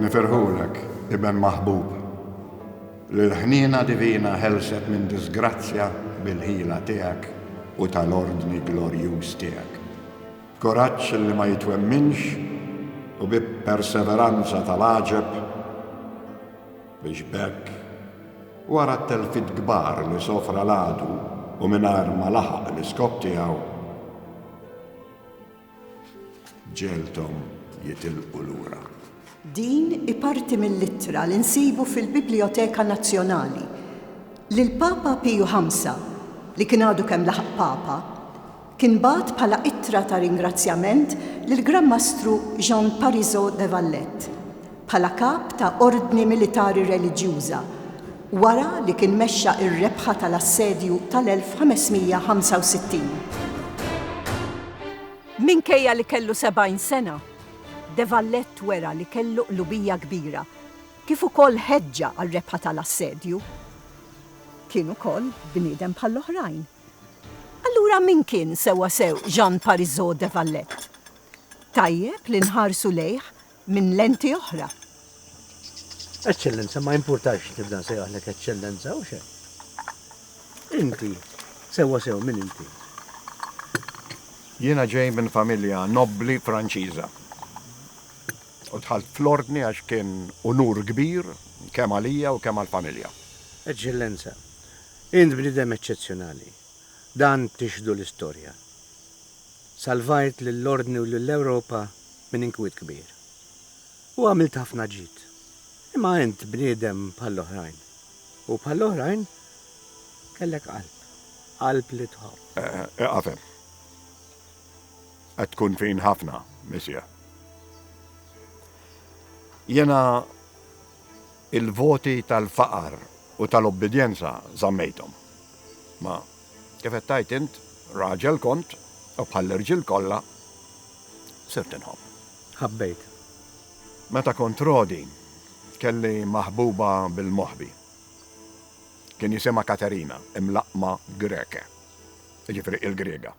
Nifirħulek, Iben maħbub, li l-ħniena divina ħelset minn disgrazzja bil-ħila tiegħek u tal-ordni glorjuż tiegħek. b'kuraġġ li ma jitwemminx u bi perseveranza tal-għaġeb, biex b'hekk, wara t-telfiet kbar li sofra l-għadu u mingħajr ma laħaq l-iskop tiegħu, ġielthom jitilqu lura. Din hi parti mill-ittra li nsibu fil-Biblijoteka Nazzjonali, li l-Papa Piju Ħamsa, li kien għadu kemm laħaq Papa, kien bagħat bħala ittra ta' ringrazzjament lill-Gran Mastru Jean Parisot de Vallette, bħala kap ta' ordni militari reliġjuża, wara li kien mexxa r-rebħa tal-Assedju tal-1565. Minkejja li kellu sebgħin sena, de Vallette wera li kellu qlubija kbira, kif ukoll ħeġġa għar-rebħa tal-Assedju. Kien ukoll bniedem bħall-oħrajn. Allura min kien sewwasew Jean Parisot de Valette? Tajjeb li nħarsu lejh minn lenti oħra. Eċċellenza, ma jimpurtax nibda nsejjaħlek Eċċellenza, hux hekk? Inti, sewwasew min inti? Jiena ġej minn familja nobbli Franċiża u dħalt fl-Ordni għax kien unur kbir kemm għalija u kemm għall-familja. Eċċellenza, Int bniedem eċċezzjonali. Dan tixhdu l-istorja. Salvajt lill-Ordni u lill-Ewropa minn inkwiet kbir. U għamilt ħafna ġid. Imma int bniedem bħall-oħrajn. U bħall-oħrajn kellek qalb. Qalb li tħobb. Ieqaf hemm. Qed tkun fin ħafna, Missier. Jiena Il-voti tal-faqar u tal-ubbidjenza żammejthom. Ma, kif qed tgħid int, raġel kont, u bħall-irġiel kollha, sirt inħobb. Ħabbejt. Meta kont rodi, kelli maħbuba bil-moħbi. Kien jisimha Katerina, imlaqqma Greke, jiġifieri il-Griega.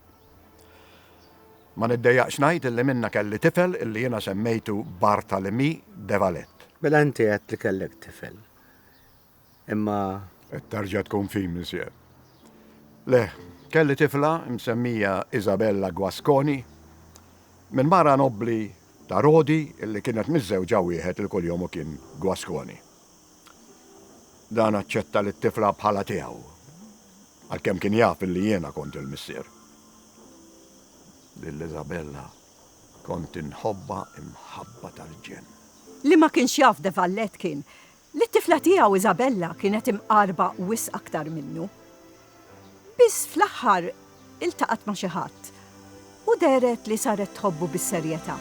Ma niddejjaqx ngħid illi minnha kelli tifel illi jiena semmejtu Barthalemie de Valette. Mela inti għedt li kellek tifel. Imma. Qed terġa' tkun fi, Monsieur. Le, kelli tifla msemmija Isabella Guasconi, minn mara nobbli ta' Rodi illi kienet miżżewġa wieħed li kuljum hu kien Guasconi. Dan aċċetta lit-tifla bħala tiegħu, għalkemm kien jaf illi jiena kont il-missier. Lil Isabella kont inħobbha imħabba tal-ġenn. Li ma kienx jaf De Vallet kien li t-tifla tiegħu Isabella kienet imqarba wisq aktar minnu. Biss fl-aħħar iltaqgħet ma' xi ħadd u dehret li saret tħobbu bis-serjetà.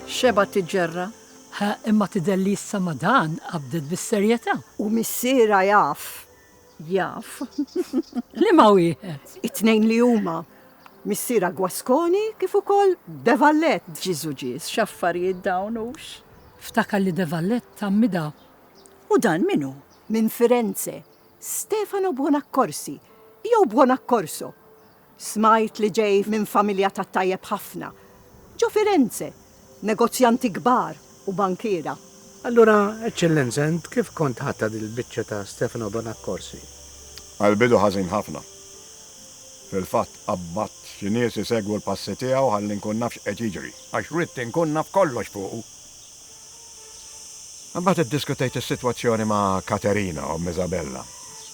Xebgħet tiġġerra. Ħa, imma tidher li issa ma' dan qabdet bis-serjetà. U missierha jaf. Jaf. Liema wieħed? It-tnejn li huma. Missierha Guasconi kif ukoll de Vallet. Ġiżu Ġież, x'affarijiet dawn hux! Ftakar li de Vallet ta' Mida. U dan min hu? Minn Firenze, Stefano Buonaccorsi, jew Buonaccorso. Smajt li ġej minn familja tat-tajjeb ħafna. Ġo Firenze, negozjanti kbar u bankiera. Allura, Eċċellenza, int kif kont ħadtha dil-biċċa ta' Stefano Bonaccorsi? Għall-bidu ħażin ħafna. Fil-fatt, qabbadt xi nies isegwu l-passi tiegħu ħalli nkun naf x'qed jiġri, għax ridt inkun naf kollox fuqu. Imbagħad iddiskutejt is-sitwazzjoni ma' Katerina, omm Isabella,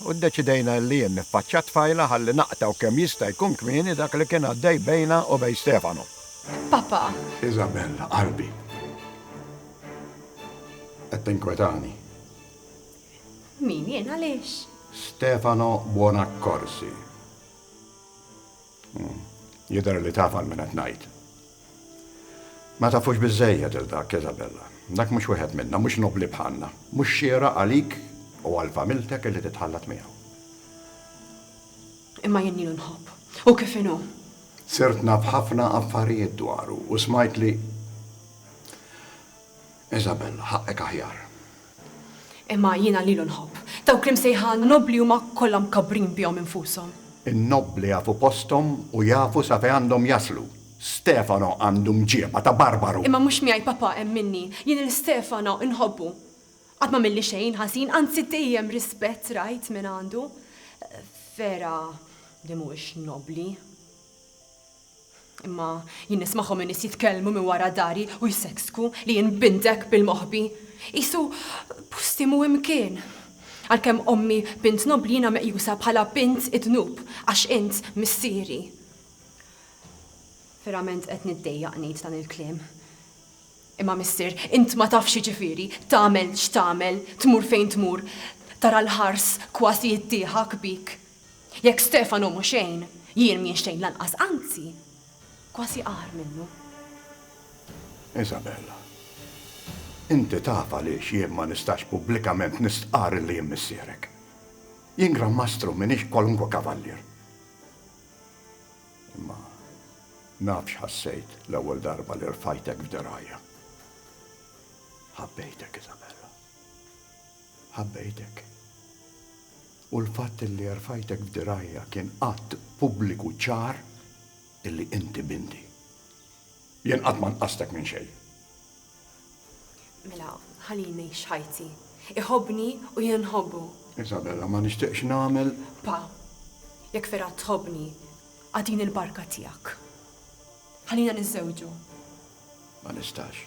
u ddeċidejna illi jien niffaċċja t-tfajla ħalli naqta' u kemm jista' jkun kmieni dak li kien għaddej bejna u bejn Stefano. Papa! Isabella, qalbi. Qed tinkwetani. Min, jien? Għaliex? Stefano Buonaccorsi. Jidher li taf għal min qed ngħid. Ma tafux biżżejjed 'il dak, Isabella. Dak mhux wieħed minna, mhux nobbli bħalna. Mhux xieraq għalik u għal familtek illi titħallat miegħu. Imma jien lilu nħobb. Hu kif inhu. Sirt naf ħafna affarijiet dwaru u smajt li. Isabel, Ħaqqek aħjar. Imma jiena lilu nħobb. Dawk li msejħa nobbli huma kollha mkabbrin bihom infushom. In-nobbli jafu posthom u jafu sa fejn għandhom jaslu. Stefano għandu mġieba ta' barbaru. Imma mhux miegħi papà hemm minni. Jien lil Stefano inħobbu. Qatt m'għamilli xejn ħażin, anzi dejjem rispett rajt mingħandu. Vera li mhuwiex nobbli. Imma jien nismagħhom in-nies jitkellmu minn wara dari u jseksku li jien bintek bil-moħbi. Qisu posti mhu imkien. Għalkemm ommi bint nobbli jiena meqjusa bħala bint id-dnub għax int missieri. Verament qed niddejjaq ngħid dan il-kliem. Imma missier, int ma tafx jiġifieri tagħmel x'tagħmel, tmur fejn tmur, tara l-ħars kważi jiddieħak bik. Jekk Stefanu mhu xejn, jien m'ienx xejn lanqas, anzi, kważi agħar minnu. Isabella, Inti taf għaliex jien ma nistax pubblikament nistqarr li jien missierek. Jien Gran Mastru, m'iniex kwalunkwe kavallier. Imma naf x'ħassejt l-ewwel darba li rfajtek f'dirgħajja. Ħabbejtek, Isabella. Ħabbejtek. U l-fatt illi erfajtek f'dirgħajja kien att pubbliku ċar illi inti binti. Jien qatt ma nqastek minn xejn. Mela, ħallini ngħix ħajti. Iħobbni u jien inħobbu. Isabella, ma nixtieqx nagħmel. Pa, jekk vera tħobbni, agħtini l-barka tiegħek. Ħallina niżżewġu. Ma nistax.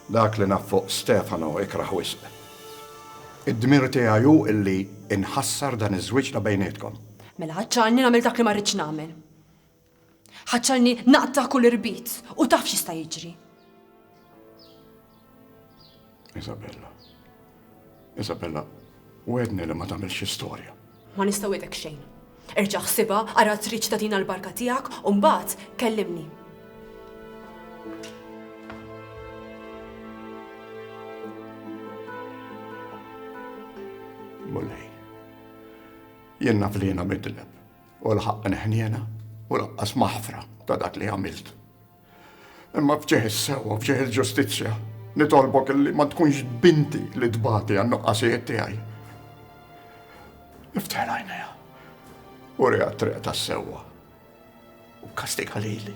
Dak li naf fuq Stefano ikrah wisq. Id-dmir tiegħi hu li nħassar dan iż-żwieġ ta' bejnietkom. Mela ħaċċarni nagħmel dak li ma rridx nagħmel. Ħaċċarni naqta' kull irbit u taf x'jista' jiġri. Isabella. Isabella, wedni li ma tagħmilx istorja. Ma nista' wedek xejn. Erġa' ħsibha, ara triċ ta' din l-barka tiegħek u mbagħad kellimni. Mulej. Jien naf li jiena midleb u l-ħaqq neħniena u laqqas maħfra ta' dak li għamilt. Imma f'ġieħ is-sewwa, f'ġieħ il-ġustizzja, nitolbok illi ma tkunx binti li tbati għan-nuqqasijiet tiegħi. Iftħel għajnejha, uriha t-triq tas-sewwa u kastiga lili.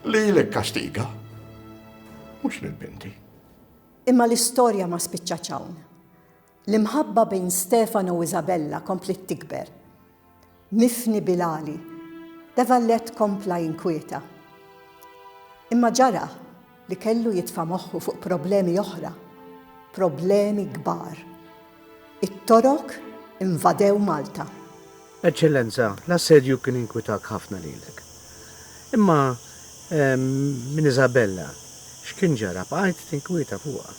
Lili kkastiga, mhux lil binti. Imma l-istorja ma spiċċatx hawn. L-imħabba bejn Stefano u Isabella kompliet tikber. Mifni bil-għali, De Valette kompla jinkwieta. Imma ġara li kellu jitfa' moħħu fuq problemi oħra, problemi kbar. It-Torok invadew Malta. Eċċellenza, l-assedju kien inkwitak ħafna lilek. Imma minn Isabella, x'kien ġara? Bqajt tinkwieta fuqha.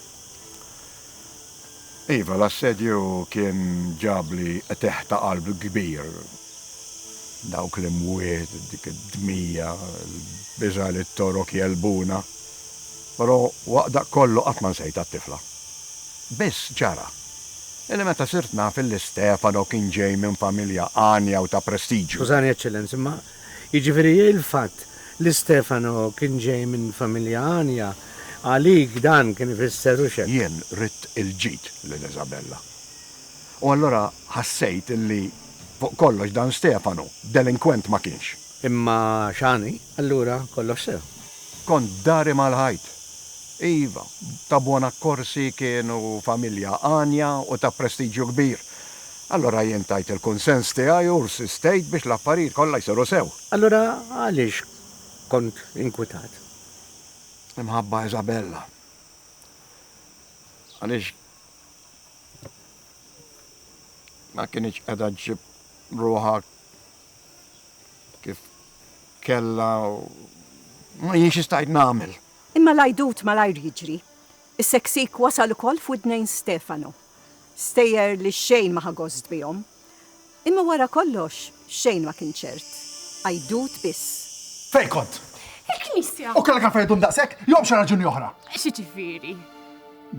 Iva, l-assedju kien ġabli qtigħ ta' qalb kbir. Dawk l-imwiet, dik id-dmija, il-biża' li t-Torok jegħlbuna. Però waqt dak kollu qatt ma nsejtha t-tifla. Biss ġara. Illi meta sirt naf illi Stefano kien ġej minn familja għanja u ta' prestiġju. Skużani Eċċellenza, imma jiġifieri il-fatt li Stefano kien ġej minn familja għanja, għalik dan kien ifisser hux hekk? Jien ridt il-ġid lil Isabella. U allura ħassejt illi, fuq kollox dan Stefano, delinkwent ma kienx. Imma x'għan hi allura kollox sew? Kont dari mal-ħajt. Iva, ta' Buonaccorsi kienu familja għanja u ta' prestiġju kbir. Allura jien tajt il-kunsens tiegħi u rsistejt biex l-affarijiet kollha jsiru sew. Allura għaliex kont inkwitat? Imħabba Isabella. Għaliex ma kinitx qiegħda ġġib ruħha kif kellha u ma jien xi stajt nagħmel. Imma l-għajdut malajr jiġri. Is-seksik wasal ukoll f'widnejn Stefano. Stejjer li xejn ma ħa gost bihom. Imma wara kollox xejn ma kien ċert. Għajdut biss. Fejn kont? Il-knisja. U kellek għalfejn iddum daqshekk jew għal xi raġuni oħra? Xi ġifieri?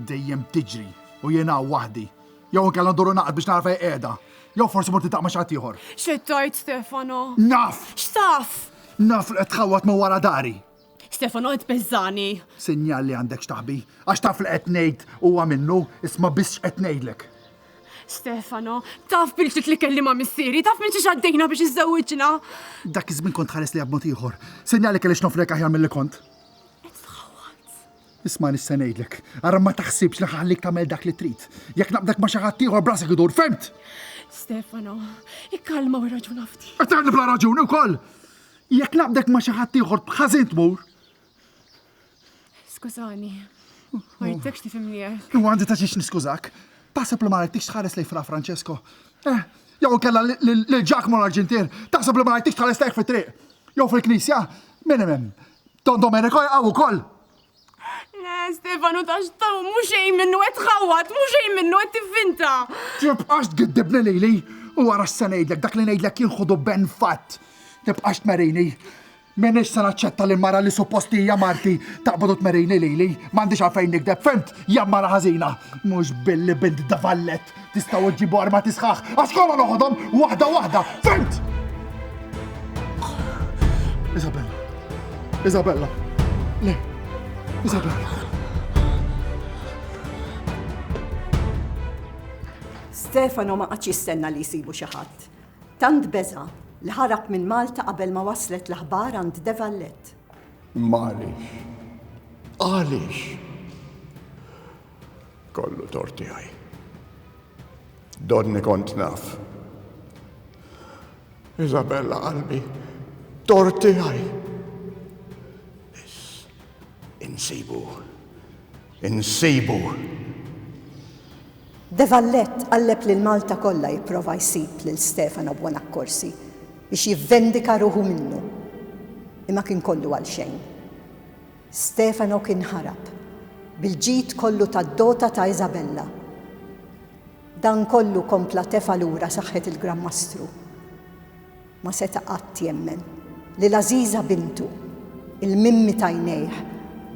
Dejjem tiġri u jien hawn waħdi. Jew inkella nduru naqra biex nara fejn qiegħda. Jew forsi mort nitaq ma' xi ħadd ieħor. X'qed tgħid, Stefano? Naf! X'taf? Naf li qed tħawwad ma' wara dari. Stefano qed tbeżżagħni. Sinjal li għandek x'taħbi. Għax taf li qed ngħid huwa minnu, isma' biss x'qed ngħidlek. Stefano, taf bil-ġdid li kelli ma' missieri, taf minn xiex għaddejna biex iżżewwiġna. Dak iż-żmien kont tħares li b'mod ieħor. Sinjal li kelli x'nofrek aħjar milli kont. Isma' nista' ngħidlek, ara ma taħsibx li ħanħallik tagħmel dak li trid. Jekk naqbdek ma' xi ħadd ieħor b'rasek idur, fhimt? Stefano, ikkalma u irraġuna ftit. Qed bla raġuni wkoll! Jekk naqbdek ma' xi ħadd ieħor b'ħażin tmur. Skużani, ma jittekx tifhimni hekk. U għandi ta' xiex niskużak. Taħseb li ma rajtix tħares lej fra Francesco. Eh, jew kella lil Giacomo l-Arġintier, taħseb li ma rajtix tħares lejh fit-triq. Jew fil-knisja, minn hemm, Don Domenico jaqaw ukoll! Le, Stefanu ta' xtaw, mhux xejn minnu qed tħawwad, mhux xejn minnu qed tivvinta. Tibqax tgiddibni lili u wara se ngħidlek dak li ngħidlek jien ħudu ben fatt. Tibqax tmerini. M'iniex se naċċetta li mara li suppost li hija marti taqbad u tmerini lili. M'għandix għalfejn nikdeb, fimt, jammara ħażina. Mhux billi bint davallet. Tistgħu iġġibu armati sħaħ, għax kollha noħodhom waħda waħda, fimt! Isabella. Isabella. Le. Isabella. Stefano ma qatx jistenna li jsibu xi ħadd. Tant beża li ħarab minn Malta qabel ma waslet l-aħbar għand Devallet. Malix. Għaliex? Kollu tort tiegħi. Donni kont naf. Isabella qalbi, tort tiegħi. Insibu. Insibu. De Vallet qalleb lil Malta kollha jipprova jsib lil Stefano Buonaccorsi biex jivvendika ruħu minnu. Imma kien kollu għal xejn. Stefano kien ħarab bil-ġid kollu tad-dota ta' Isabella. Dan kollu kompla tefa' lura saħħet il-Gran Mastru. Ma seta' qatt jemmen li l-għażiża bintu, il-mimmi t'għajnejh,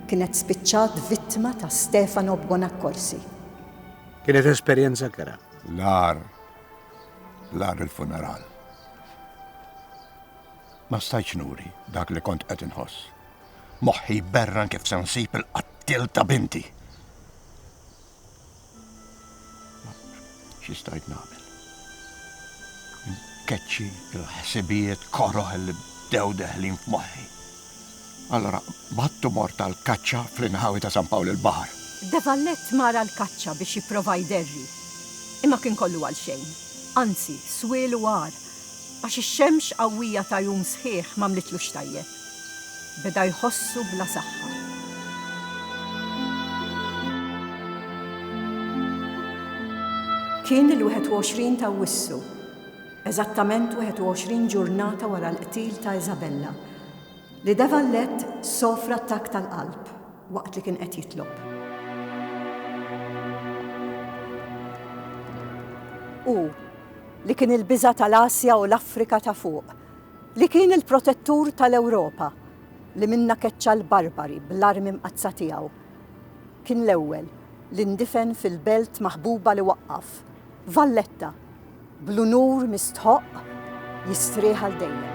kienet spiċċat vittma ta' Stefano Buonaccorsi. Kienet esperjenza kera. L-agħar, l-agħar il-funeral. Ma stajtx nuri dak li kont qed inħoss. Moħħi jberran kif se nsib il-qattiel ta' binti. Xi stajt nagħmel? Keċċi il-ħsibijiet koroħ li bdew deħlin f'moħħi. Allora, battu mort tal-kaċċa fl-inħawi ta' San Pawl il-Bahar. Devallet mara l-kaċċa biex jipprova jderri. Imma kien kollu għal xejn. Anzi, swielu għar. Għax ix-xemx qawwija ta' jum sħiħ m'għamlitlux tajjeb. beda jħossu bla saħħa. Kien il-21 ta' Awwissu, eżattament 21 ġurnata wara l-qtil ta' Isabella, li De Vallet sofra attakk tal-qalb waqt li kien qed jitlob. Hu, li kien il-biża' tal-Asja u l-Afrika ta' fuq, Li kien il-protettur tal-Ewropa li minnha keċċa l-barbari bl-armi mqaddsa tiegħu. Kien l-ewwel li ndifen fil-belt maħbuba li waqqaf, Valletta, bl-unur mistħoqq jistrieħ għal dejjem.